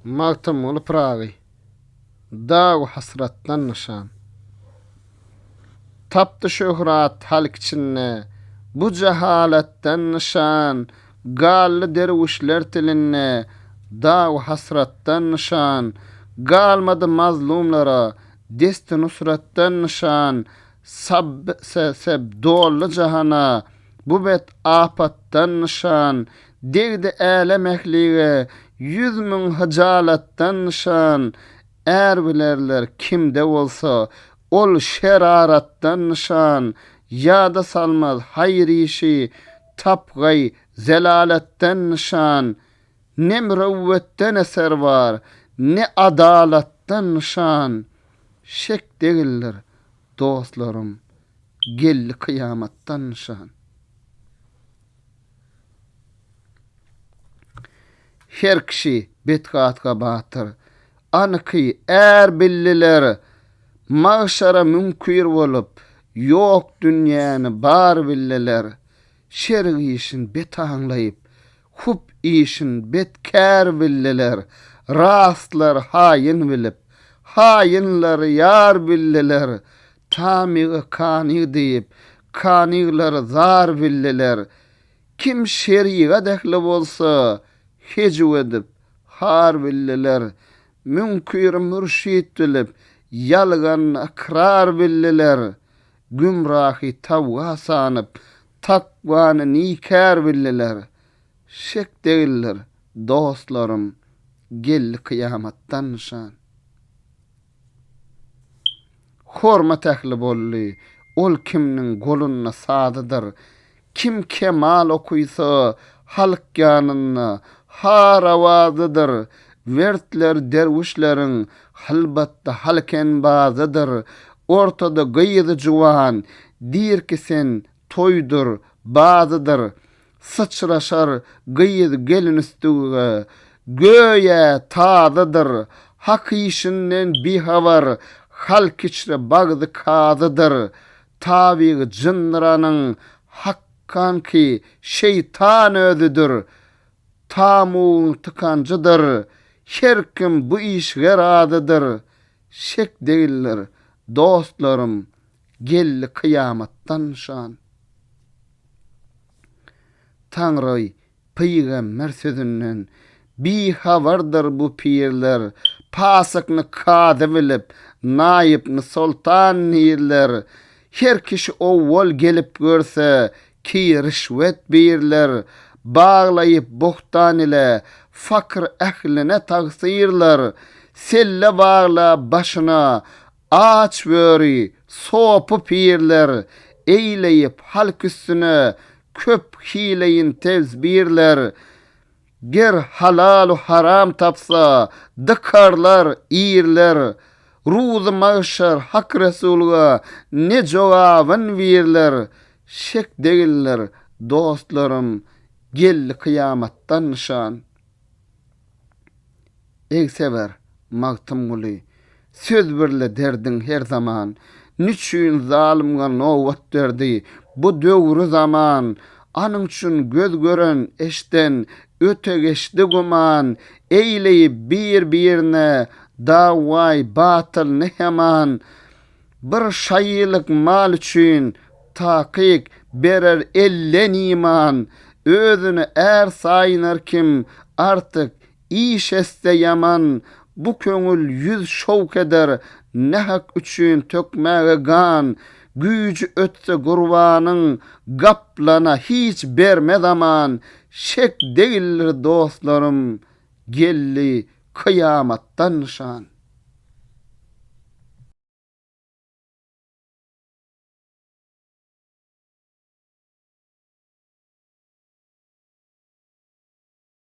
Magtymguly Pyragy Dagu hasratdan nyşan Tapdy şöhrat halk içinde Bu jahalatdan nyşan Galdy derwüşler tilinde Dagu hasratdan nyşan Galmady mazlumlara Desti nusratdan nyşan Sab se seb dolly jahana Bu bet apatdan nyşan Degdi älem ählige Ýüz müň hyjalatdan nyşan Är bilerler kimde bolsa Ol şeraratdan nyşan Ýada salmaz haýyr işi Tapgaý zelalatdan nyşan Ne mürewwetden eser bar Ne adalatdan nyşan Şek degildir dostlarym geldi kyýamatdan nyşan. Her kişi betgatga batyr anyky är bildiler Magşara müňkür bolup ýok dünýäni bar bildiler Şerik işin bet aňlaýyp Hup işin bet kär bildiler, Rastlar haýyn bilip, Haýynlar ýar bildiler, Tamygy kany diýip, Kanyglar zar bildiler. Kim şerigat ähli bolsa, Hejiw edip, har bildiler, Müňkiri mürşit bilip, Ýalgan ykrar bildiler. Gümrahy tawga sanyp, takwany nikär bildiler. Şek degildir, dostlarym, geldi kyýamatdan nyşan. Hormat ähli boldy, ol kimniň golunda sazydyr, Kim kemal okysa, halk ýanynda har awazydyr, Wertler derwüşleriň hylbatda halk enbazydyr. Ortada gyzy juwan, dirki sen toýdur, bazydyr, Syçraşar gyz gelin üstüge, göýä tazydyr, Hak işinden bihabar, halk içre bagzy kazydyr, Tabygy jyndyranyň hakkanky şeýtan özüdir. Tamugyň tykanjydyr. Her kim bu işige razydyr. Şek degildir, dostlarym, geldi kyýamatdan nyşan. Taňry Pygamber sözünden bihabardyr bu pirler, Pasykny kazy bilip, naýypny soltan nirler. Her kişi owwal gelip görse, ki rişwet birler, Baglaýyp bohtan ile, fakyr ähline tagsyrlar. Selle bagla başyna, Aç böri, sopy pirler, Eýleýip halk üstüne köp hileýin tezbirler. Ger halalu haram tapsa, dykarlar irler, Ruzy magşar Hak Resulga ne jogabyn birler. Şek degildir, dostlarym, geldi kyýamatdan nyşan. Egseber Magtymguly söz birle derdiň her zaman Niçün zalymga nobat berdi bu döwri zaman Anyň üçin göz gören eşden öte geçdi güman Eýleýi bir birine dawaý batyl ne heman Bir şaýylyk mal üçin takyk berer elden iman, özüni är saýynar kim artyk iş etse ýaman, bu köňül ýüz şowk eder nähak üçin tökmäge gan, güýji ötse gurbanyň gaplana hiç bermez aman, şek degildir dostlarym geldi Kyýamatdan nyşan.